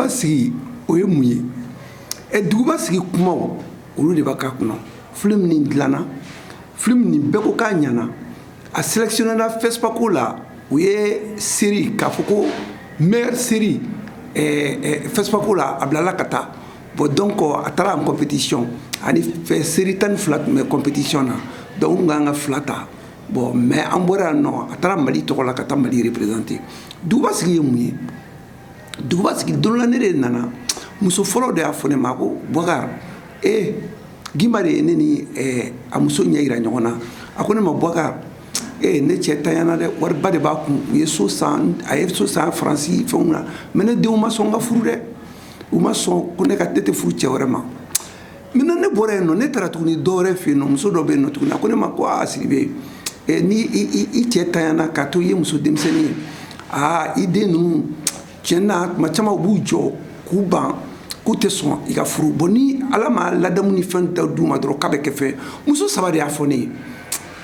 duguba sigi o ye mun ye ɛ duguba sigi kumaw olu de b'a ka kɔnɔ film nin dilanna film nin bɛɛ ko k'a ɲana a sélectionnéra FESPACO la o ye série k'a fɔ ko meilleure série FESPACO la a bilala ka taa bon donc a taara en compétition ani série tan ni fila tun bɛ compétition na donc u tun ka kan ka fila ta bon mais an bɔra yan nɔ a taara Mali tɔgɔ la ka taa Mali représenter duguba sigi ye mun ye duguba sigi don dɔ la ne de nana muso fɔlɔ de y'a fɔ ne ma ko Bubakari ee Gimba de ye ne ni a muso ɲɛ jira ɲɔgɔn na a ko ne ma Bubakari ee ne cɛ tanyana dɛ wariba de b'a kun u ye so a ye so san Faransi fana mɛ ne denw ma sɔn n ka furu dɛ u ma sɔn ko ne ka tɛ tɛ furu cɛ wɛrɛ ma mɛnna ne bɔra yen nɔ ne taara tuguni dɔ wɛrɛ fɛ yen nɔ muso dɔ bɛ yen nɔ tuguni a ko ne ma ko aa Sidibe n'i cɛ tanyana ka to i ye muso denmisɛnnin ye aa i den ninnu tiɲɛ na tuma caman u b'u jɔ k'u ban k'u tɛ sɔn i ka furu bon ni ala ma ladamuni fɛn da du ma dɔrɔn k'a bɛ kɛ fɛn muso saba de y'a fɔ ne ye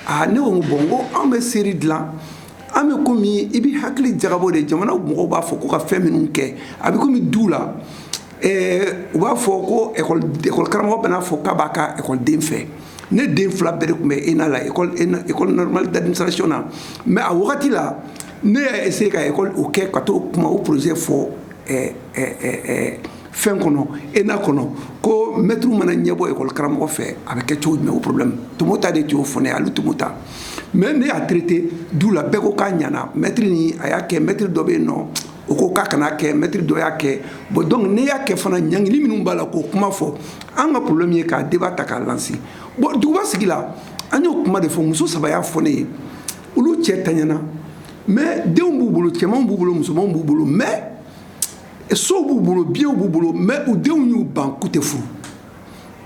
aa ne ko bon ko an bɛ série dilan an bɛ komi i bɛ hakili jagabɔ de jamana mɔgɔw b'a fɔ ko ka fɛn minnu kɛ a bɛ komi du la u b'a fɔ ko ekɔli karamɔgɔ bɛna a fɔ k'a b'a ka ekɔliden fɛ ne den fila bɛɛ tun bɛ ENA la école normale d'administration na mɛ a wagati la ne y'a essayer ka ekɔli o kɛ ka to kuma o projet fɔ fɛn kɔnɔ ENA kɔnɔ ko mɛtiri mana ɲɛ bɔ ekɔli karamɔgɔ fɛ a bɛ kɛ cogo jumɛn o problème tun ma ta de cogo fɔ ale tun m'o ta mɛ ne y'a traiter du la bɛɛ ko k'a ɲana mɛtiri n'a y'a kɛ mɛtiri dɔ bɛ yen nɔ u ko k'a kana kɛ mɛtiri dɔ y'a kɛ bon donc ne y'a kɛ fana ɲangili minnu b'a la k'o kuma fɔ an ka problème ye k'a débat ta k'a lancer bon duguba sigi la an y'o kuma de fɔ muso saba y'a fɔ ne ye olu cɛ taɲana mais denw b'u bolo cɛmanw b'u bolo musomanw b'u bolo mais sow b'u bolo biyɛnw b'u bolo mais u denw y'u ban k'u tɛ furu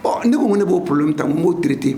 bon ne ko ne b'o problème ta n b'o traiter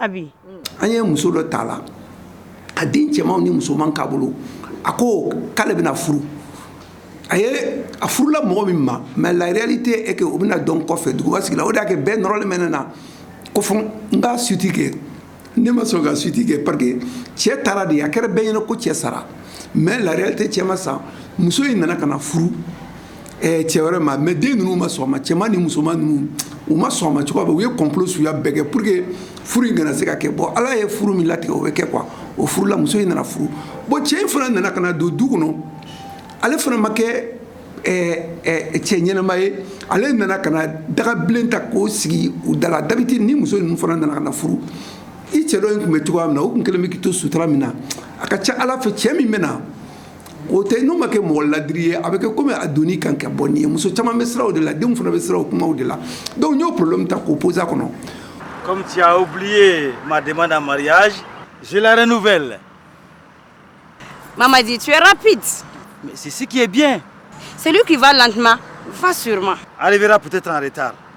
an ye muso dɔ ta a la a den cɛmanw ni musoman k'a bolo a ko k'ale bɛna furu a ye a furula mɔgɔ min ma mais la réalité est que o bɛna dɔn kɔfɛ duguba sigi la o de y'a kɛ bɛɛ nɔrɔlen bɛ ne na ko fo n ka suite kɛ ne ma sɔn ka suite kɛ parce que cɛ taara de a kɛra bɛɛ ɲɛna ko cɛ sara mais la réalité cɛ ma sa muso in nana ka na furu Ɛɛ cɛ wɛrɛ ma mais den ninnu ma sɔn a ma cɛman ni musoman ninnu u ma sɔn a ma cogoya bɛ u ye complot suguya bɛɛ kɛ pour que furu in kana se ka kɛ bon ala ye furu min latigɛ o bɛ kɛ quoi o furula muso in nana furu bon cɛ in fana nana ka na don du kɔnɔ ale fana ma kɛ cɛ ɲɛnama ye ale nana ka dagabilen ta k'o sigi u da la d'habitude ni muso ninnu fana nana ka na furu i cɛ dɔ in tun bɛ cogoya min na o tun kɛlen bɛ k'i to sutura min na a ka ca a la fɛ cɛ min bɛ na o tɛ n'o ma kɛ mɔgɔ ladiri ye a bɛ kɛ komi a doni kan kɛ bon nin ye muso caman bɛ siran o de la denw fana bɛ siran o kumaw de la donc n y'o problème ta k'o poser a kɔnɔ. comme tu as oublié ma demande en mariage je la renouvelle. Mamadi, tu es rapide. Mais c'est ce qui est bien. Celui qui va lentement va sûrement. Arrivera peut-être en retard.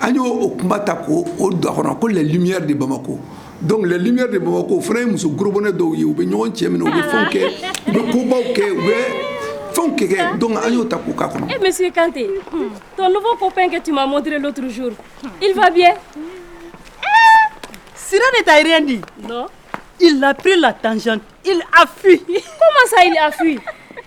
an y'o o kuma ta k'o don a kɔnɔ ko les lumières de Bamako donc les lumières de Bamako o fana ye muso gorobonɛ dɔw ye u bɛ ɲɔgɔn cɛ minɛ u bɛ fɛnw kɛ u bɛ kobaw kɛ u bɛ fɛnw kɛ kɛ donc an y'o ta k'o k'a kɔnɔ. Eh monsieur Kanté ton nouveau copain que tu m'as montré l'autre jour il va bien. Sira ne t'a rien dit. Non. Il a pris la tangente. Il a fui. Comment ça, il a fui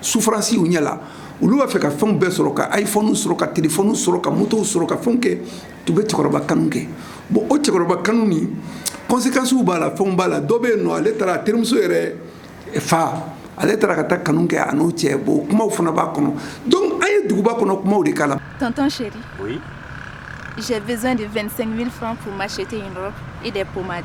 souffrance y'u ɲɛ la olu b'a fɛ ka fɛnw bɛɛ sɔrɔ ka iphone sɔrɔ ka telefɔni sɔrɔ ka motow sɔrɔ ka fɛnw kɛ tu bɛ cɛkɔrɔba kanu kɛ bon o cɛkɔrɔba kanu ni conséquences b'a la fɛnw b'a la dɔ bɛ yen nɔ ale taara a terimuso yɛrɛ fa ale taara ka taa kanu kɛ a n'o cɛ bon kumaw fana b'a kɔnɔ donc an ye duguba kɔnɔ kumaw de k'a la. tonton chéri. oui. j'ai besoin de 25 000 francs pour m'acheter une robe et des pommades.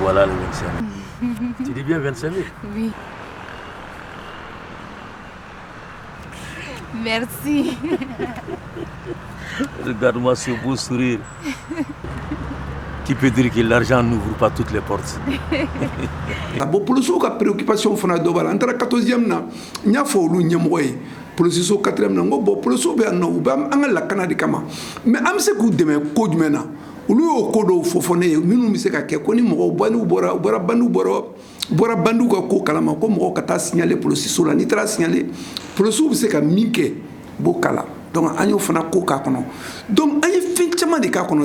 Voilà les 25 000. tu dis bien 25 000 Oui. Merci. Regarde-moi ce beau sourire. qui peut dire que l'argent n'ouvre pas toutes les portes. bon polisiw ka préoccupation fana dɔ b'a la n taara 14e na n y'a fɔ olu ɲɛmɔgɔ ye polisiso 4e na n ko bon polisiw bɛ yan nɔ u bɛ an ka lakana de kama mais an bɛ se k'u dɛmɛ ko jumɛn na olu y'o ko dɔw fɔ fɔ ne ye minnu bɛ se ka kɛ ko ni mɔgɔw bandiw bɔra u bɔra bandiw bɔra bɔra bandiw ka ko kalama ko mɔgɔw ka taa signaler polisiso la n'i taara signaler polisiw bɛ se ka min kɛ b'o k'a la donc an y'o fana ko k'a kɔnɔ donc an ye fɛn caman de k'a kɔnɔ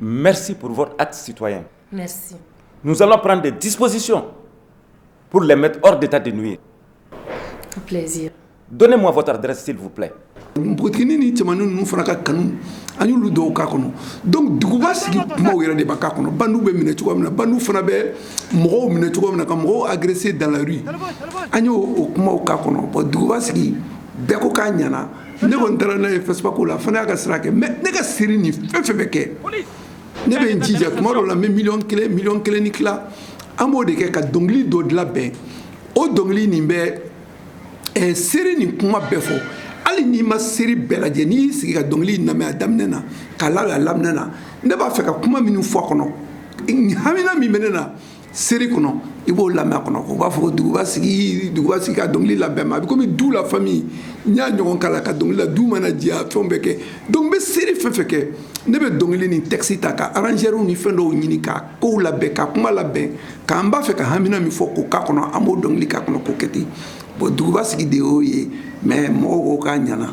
Merci pour votre acte citoyen. Nous allons prendre des dispositions pour les mettre hors d'état de nuire. Donnez-moi votre adresse s'il vous plaît. npogotini ni cɛman ninnu fana ka kanu an y'olu dɔw k'a kɔnɔ donc duguba sigi kumaw yɛrɛ de bɛ k'a kɔnɔ bandiw bɛ minɛ cogo min na bandiw fana bɛ mɔgɔw minɛ cogo min na ka mɔgɔw agresser dans la rue an y'o o kumaw k'a kɔnɔ bon duguba sigi bɛɛ ko k'a ɲana ne kɔni taara n'a ye fɛsipako la fana y'a ka sira kɛ mɛ ne ka seri nin fɛn fɛn bɛ kɛ ne bɛ n jija tuma dɔ la n bɛ miliyɔn kelen miliyɔn kelen ni tila an b'o de kɛ ka dɔnkili dɔ labɛn o dɔnkili nin bɛ eh, seri nin kuma bɛɛ fɔ hali n'i ma seri bɛɛ lajɛ n'i y'i sigi ka dɔnkili in lamɛn a daminɛ na k'a laban a laminɛ na ne b'a fɛ ka kuma minnu fɔ a kɔnɔ hamina min bɛ ne na seri kɔnɔ i b'o lamɛn a kɔnɔ u b'a fɔ ko duguba sigi ka dɔnkili labɛn ma a bɛ komi du la famille n y'a ɲɔgɔn k'a la ka dɔnkili la du mana diya fɛnw bɛɛ kɛ donc n bɛ seri fɛn fɛn kɛ ne bɛ dɔnkili ni texte ta ka arrangeurw ni fɛn dɔw ɲini ka kow labɛn ka kuma labɛn k'an b'a fɛ ka hamina min fɔ k'o k'a kɔnɔ an b'o dɔnkili k'a kɔnɔ k'o kɛ ten bon duguba sigi de y'o ye mais mɔgɔw ko k'a ɲana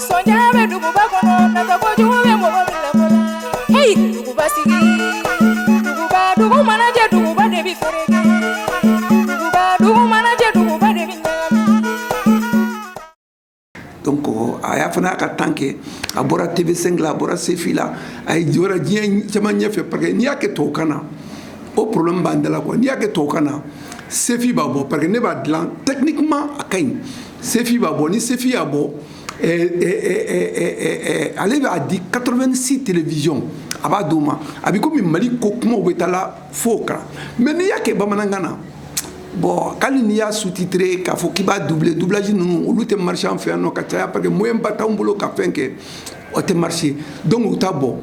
Ko a y'a fana y'a ka tan kɛ a bɔra tɛmɛ sen a bɔra senfi la a ye jɔyɔrɔ diɲɛ caman ɲɛ ɲɛfɛ pa n'i y'a kɛ tokan na o poro b'an dala kuwa n'i y'a kɛ tokan na senfin b'a bɔ pa ne b'a dila tɛkuma a ka ɲi sefi b'a bɔ ni sefi y'a bɔ ale b'a di 86 télévision a b'a d'o ma a bɛ komi mali ko kumaw bɛ taa la fo kan mais n'i y'a kɛ bamanankan na bon hali n'i y'a sous-titrer k'a fɔ k'i b'a doubler doublage ninnu olu tɛ marché an fɛ yan nɔ ka caya parce que moyen ba t'anw bolo ka fɛn kɛ o tɛ marché donc u t'a bɔ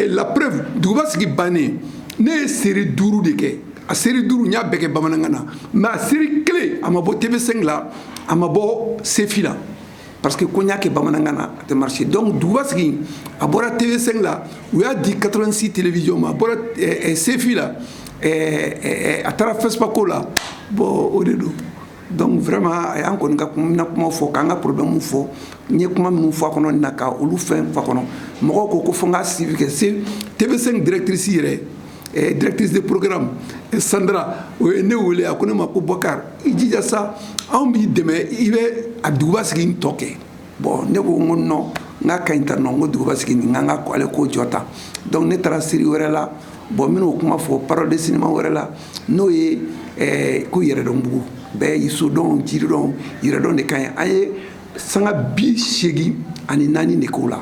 la preuve duguba sigi bannen ne ye seri duuru de kɛ a seri duuru n y'a bɛɛ kɛ bamanankan na mɛ a seri kelen a ma bɔ tv5 la a ma bɔ sefi la parce que ko n y'a kɛ bamanankan na a tɛ marché donc duguba sigi a bɔra tv5 la u y'a di 86 télévision ma a bɔra eh, eh, sefi la eh, a taara fɛsipako la bon o de don donc vraiment a y'an kɔnɔna kuma fɔ k'an ka problème fɔ n ye kuma minnu fɔ a kɔnɔ nin na ka olu fɛn f'a kɔnɔ mɔgɔw ko ko fo n ka suivi kɛ c'est tv5 directrice yɛrɛ directrice de programme sandra o ye ne wele a ko ne ma ko bɔkari i jija sa anw b'i dɛmɛ i bɛ a duguba sigi nin tɔ kɛ bon ne ko n ko nɔ n ka ka ɲi tan nɔ n ko duguba sigi nin n ka ko ale ko jɔ tan donc ne taara seri wɛrɛ la bon minnu kuma fɔ parole de sinima wɛrɛ la n'o ye ko yɛrɛdɔnbugu bɛɛ y'i sodɔn jiridɔn yɛrɛdɔn de ka ɲi an ye sanga bi seegin ani naani de k'o la